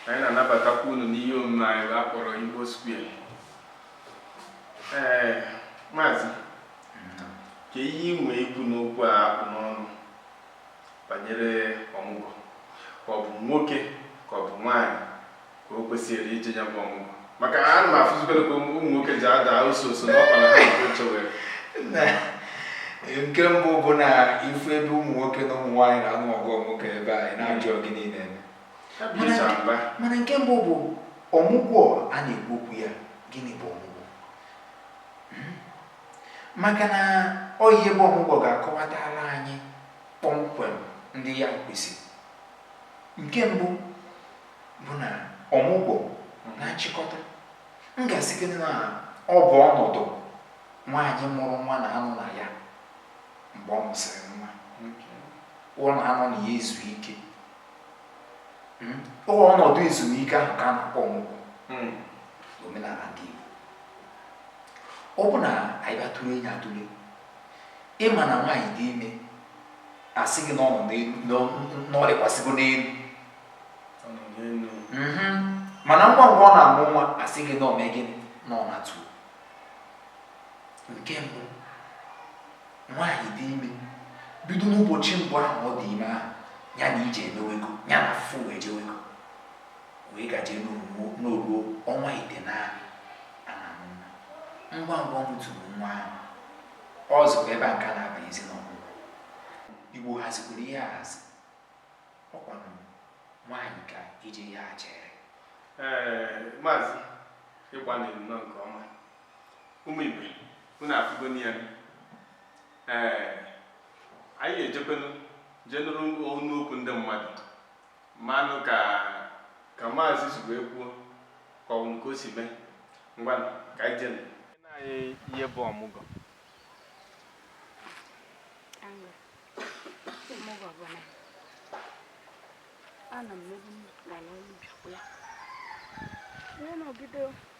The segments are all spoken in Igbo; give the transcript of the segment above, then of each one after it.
Anyị na-anabatakwa unu n'ihe omume anyị a a kpọrọ Igbo Square. Ee, maazị, kee ihe i nwee ikwu n'okwu a a kpụ n'ọnụ banyere ọmụgwọ ka ọ bụ nwoke ka ọ bụ nwaanyị ka o kwesịrị ije ya bụ ọmụgwọ maka na ana m afụzikwa ka ụmụ nwoke ji ada ọsọ ọsọ n'ọkwa na ha nke oche were Na nke mbụ bụ na ị fụ ebe ụmụ nwoke na ụmụ nwaanyị na-anụ ọgụ nwoke ebe anyị na-ajụ ọ gịnị na-eme. mana nke mbụ bụ ọmụgwọ a na-ekwu okwu ya gịnị bụ ọmụgwọ hmm? maka na ọ ihe bụ ọmụgwọ ga-akọwatara anyị kpọmkwem ndị ya kwesịrị nke mbụ bụ na ọmụgwọ na nchịkọta m ga-asị gị na ọ bụ ọnọdụ nwaanyị mụrụ nwa na-anọ na ya mgbe ọ mụsịrị nwa ọ na-anọ na ya ezu ike hmm? ọ bụ ọnọdụ ezumike ahụ ka a na-akpọ ọmụgwọ hmm. omenala ndị Igbo ọ bụ na anyị batụrụ enyi atụle ị ma na nwaanyị dị ime a sị gị na ọ lịkwasịgo n'elu hmm. mana ngwa ngwa ọ na-amụ nwa a sị gị na o mee gịnị na ọ na-atụ nke mbụ Nwaanyị dị ime bido n'ụbọchị mbụ ahụ ọ dị ime ahụ ya na ije emewego ya na afụfụ wee jewego wee gaje na o ruo ọnwa itenaanị a na-amụ nwa ngwa ngwa ọ mụtụrụ nwa ahụ ọ zị ebe a ka a na-abazi n'ọmụgwọ a hazikwara ihe ahazi ọ kwanụ nwaanyị ka ije ya chere ee maazị ị gbalịrị nnọọ nke ọma ụmụ Igbo unu afụgonu ya ee anyị ejekwenu jee nụrụ ọnụ okwu ndị mmadụ manụ ka ka maazị si wee kwuo ka o nwere ka o si mee ngwa ka anyị jenu anyị ihe bụ ọmụgwọ ọmụgwọ bụ na anọ m n'ebe m gara ọrụ bịakwa ya wee nọgide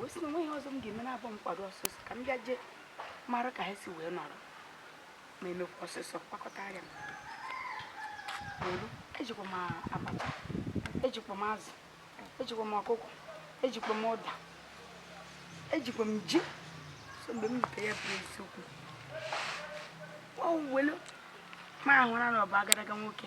wee sị na o nweghị ihe ọzọ m ga-eme na-abụ m kwado ọsọsọ ka m bịa jee mara ka ha si wee nọrọ ma emekwa ọsọsọ kpakọta ya ejikwa m abacha ejikwa m azụ ejikwa m ọkụkọ ejikwa m ụda ejikwa m ji so mgbe m rutere ya bụrụ eziokwu o welu ma ahụra na ọ bụ agadaga nwoke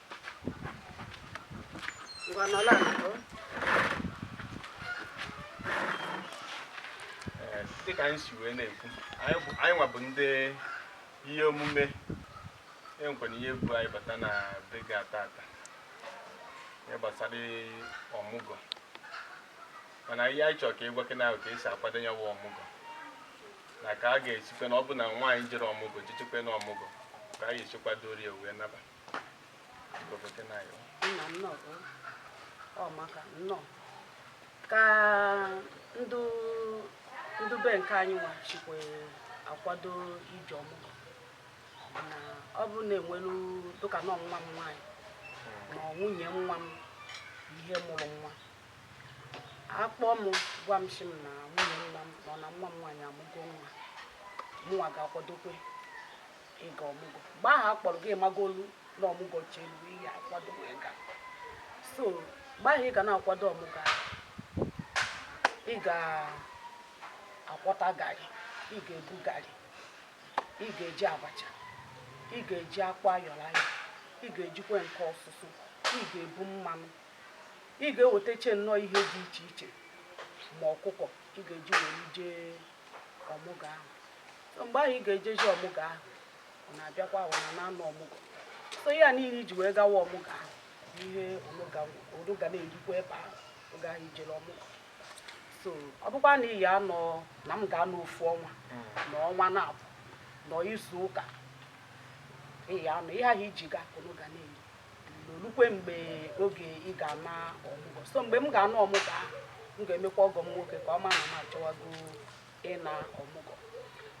dịka anyị si wee na-ekwu anyị nwa bụ ndị ihe omume enwekwana ihe bụ anyị bata na be gị taata ihe gbasara ọmụgwọ mana ihe anyị chọrọ ka ị gwakene anyị ka esi akwado ya bụ ọmụgwọ na ka a ga-esikwe na ọ bụ na nwaanyị jere ọmụgwọ jechekwe na ọmụgwọ ka a ga-esi kwadoro ya wee naba nna nnọọ ọ maka nnọọ ka ndị be nke anyị nwa sikwe akwado ije ọmụgwọ mana ọ bụrụ na enwelu dịka na nwa m nwaanyị ma ọ nwunye nwa m ihe mụrụ nwa a kpọọ m gwa m sị m na nwunye nwa m nọ na nwa m nwaanyị amụgo nwa mụnwa ga-akwadokwe ịga ọmụgwọ mgbe ahụ a kpọrọ gị ị magolu na ọmụgwọ chelu ị ga-akwado wee ga so mgbe ahụ ị ga na-akwado ọmụgwọ ị ga-akwọta garị ị ga-ebu garị ị ga-eji abacha ị ga-eji akpụ ayọrọ ayọ ị ga-ejikwa nke ọsụsụ ị ga-ebu mmanụ ị ga-ewetacha nnọọ ihe dị iche iche ma ọkụkọ ị ga-eji wee jee ọmụgwọ ahụ so mgbe ahụ ị ga-ejezi ọmụgwọ ahụ ọ na-abịakwa ahụ na-anọ ọmụgwọ so ihe niile i ji wee gawa ọmụgwọ ahụ ihe unu ga na-erikwa ebe ahụ oge ahụ i jere ọmụgwọ so ọ bụkwa na ị ga-anọ na m ga-anọ ofu ọnwa hmm. nọ ọnwa naabọ nọ izu ụka ị ga-anọ ihe ahụ i ji ga unu ga na-eri o lukwe mgbe oge ị ga-ana ọmụgwọ so mgbe m ga-ana ọmụgwọ ahụ m ga-emekwa ọgọ m nwoke ka ọ ma na m achọwago ịna ọmụgwọ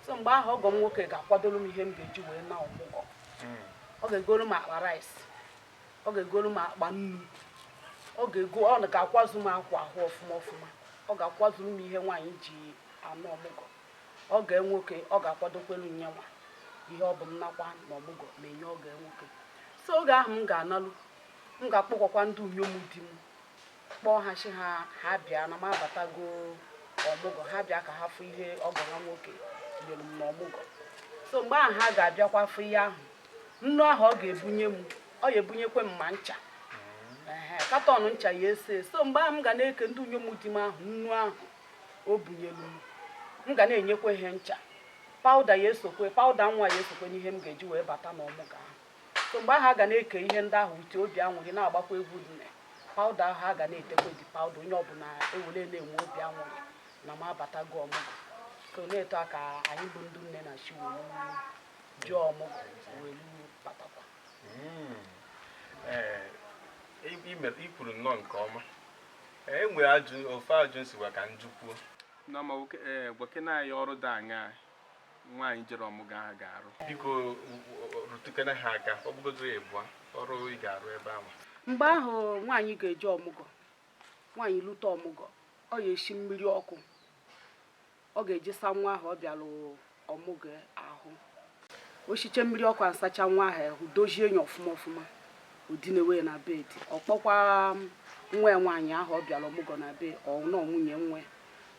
so mgbe ahụ ọgọ m nwoke ga-akwadoro m ihe m ga-eji wee na ọmụgwọ hmm. ọ ga-egoro m akpa rice ọ ga-egoro m akpa nnu ọ ga-ego ọ ga-akwazu m akwa ahụ ọfụma ọfụma ọ ga-akwadoro m ihe nwaanyị ji ana ọmụgwọ ọgọ ya nwoke ọ ga-akwadokwelu yanwa ihe ọ bụ m nakwa na ọmụgwọ m enye ọgọ ya nwoke so oge ahụ m ga-analụ m ga-akpọkọkwa ndị inyom di m kpọọ ha sị ha ha bịa na m abatago ọmụgwọ ha bịa ka ha fụ ihe ọgọ ha nwoke nyere m na ọmụgwọ so mgbe ahụ ha ga-abịakwa fụ ihe ahụ nnu ahụ ọ ga-ebunye m ọ ga-ebunyekwe m ma ncha carton ncha yes so mgbe ahụ m ga na-eke ndị inyom di m ahụ nnu ahụ o bunyelu m m ga na-enyekwa ihe ncha pawụda ya esokwe pawụda nwa ya esokwe n'ihe m ga-eji wee bata n'ọmụgwọ ahụ so mgbe ahụ a ga na-eke ihe ndị ahụ uche obi anwụrị na-agbakwa egwu dị na pawụda ahụ a ga na-etekwadị pawụda onye ọbụla e were na-enwe obi anwụrị na m abatago ọmụgwọ so n'etu a ka anyị bụ ndị nne na-esi wee je ọmụgwọ wee batakwa hmm. eh, i kwuru nnọọ nke ọma E nwere ofu ajụjụ m sịwa ka m jụkwuo. Nne ọma nwoke ee gwakene anyị ọrụ dị aṅaa nwaanyị jere ọmụgwọ ahụ ga-arụ. Biko rụtụkene ha aka ọ bụgodu ịbụa ọrụ ị ga-arụ ebe ahụ. Mgbe ahụ nwaanyị ga-eje ọmụgwọ, nwaanyị lute ọmụgwọ, ọ ya-esi mmiri ọkụ ọ ga-eji asa nwa ahụ ọ bịara ọmụgwọ ahụ o shiche mmiri ọkụ asacha nwa ahụ ahụ dozie enyi ọfụma ọfụma o dinewe na bed ọ kpọkwa um, nwa ya nwaanyị ahụ ọ bịara ọmụgwọ na be ọnọ nwunye nwa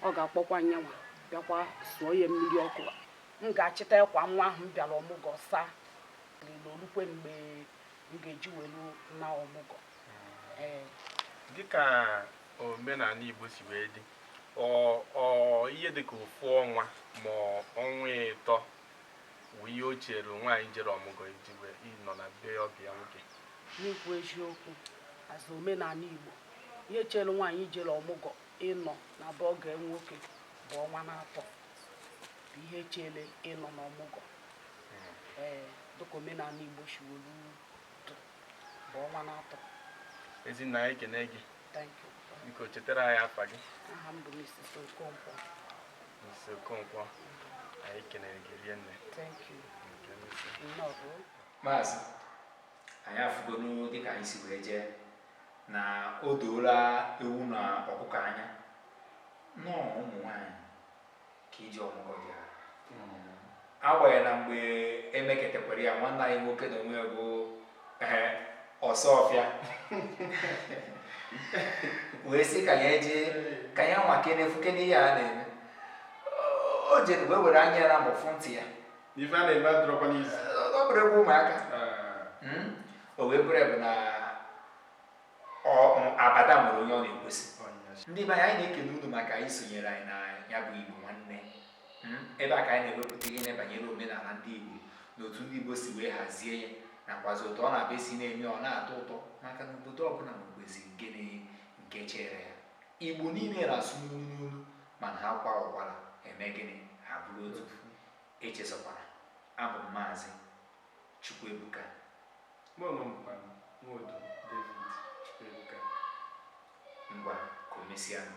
ọ ga-akpọkwa nyanwa bịakwa sụọ ya mmiri ọkụ m ga-achịta akwa nwa ahụ m bịara ọmụgwọ saa niile o lukwe mgbe m ga-eji welu naa ọmụgwọ ee dịka omenala Igbo si wee dị ọ ọ ihe dịka ofu ọnwa ma ọnwa ịtọ wụ ihe o chere nwaanyị jere ọmụgọ iji wee ịnọ na be ọgọ ya nwoke n'ikwu eziokwu as omenala igbo ihe chere nwaanyị jere ọmụgọ ịnọ na be ọgọ ya nwoke bụ ọnwa n'atọ bụ ihe chere ịnọ na ọmụgọ ee dịka omenala igbo shi wolu dụ bụ ọnwa n'atọ ezi nne anyị ekene gị biko chetara anyị afa gị Mrs. Okonkwo anyị kenere gị rinne maazị anyị afụgonu dịka anyị si wee jee na o doola ewu na ọkụkọ anya na ọrụ ụmụ nwanyị ka ije ọmụgwọ bụ agbanyeghị na mgbe e meketakwara ya nwanne anyị nwoke na onwe bụ Osuofia wee sị ka ya je ka ya nwaakene fụkene ihe a na-eme o jere wee were anya ya naabọ fụ ntị ya ife a na-eme adịrọkwa easy ọ bụrọ egwu ụmụaka o wee bụrụ ebe na ịma abada nwere onye ọ na-ekwesị ndị be anyị anyị na-ekele unu maka isonyere anyị na ya bụ igbo nwanne Mm, ebe a ka anyị na-ewepụta ihe na-ebanyere omenala ndị igbo na otu ndị igbo si wee hazie ya nakwazi otu ọ na-abịa esi na-eme ọ na-atọ ụtọ maka na obodo ọbụla nwekwezi nke na- nke chere ya igbo niile na-asụ n'olu n'olu mana ha kwaa ụkwara e mee gịnị ha bụrụ otu echezọkwala abụ m maazị Chukwuebuka. Mụ onwe m bụkwa Nwodo David Chukwuebuka. Ngwa ka o mesịanụ.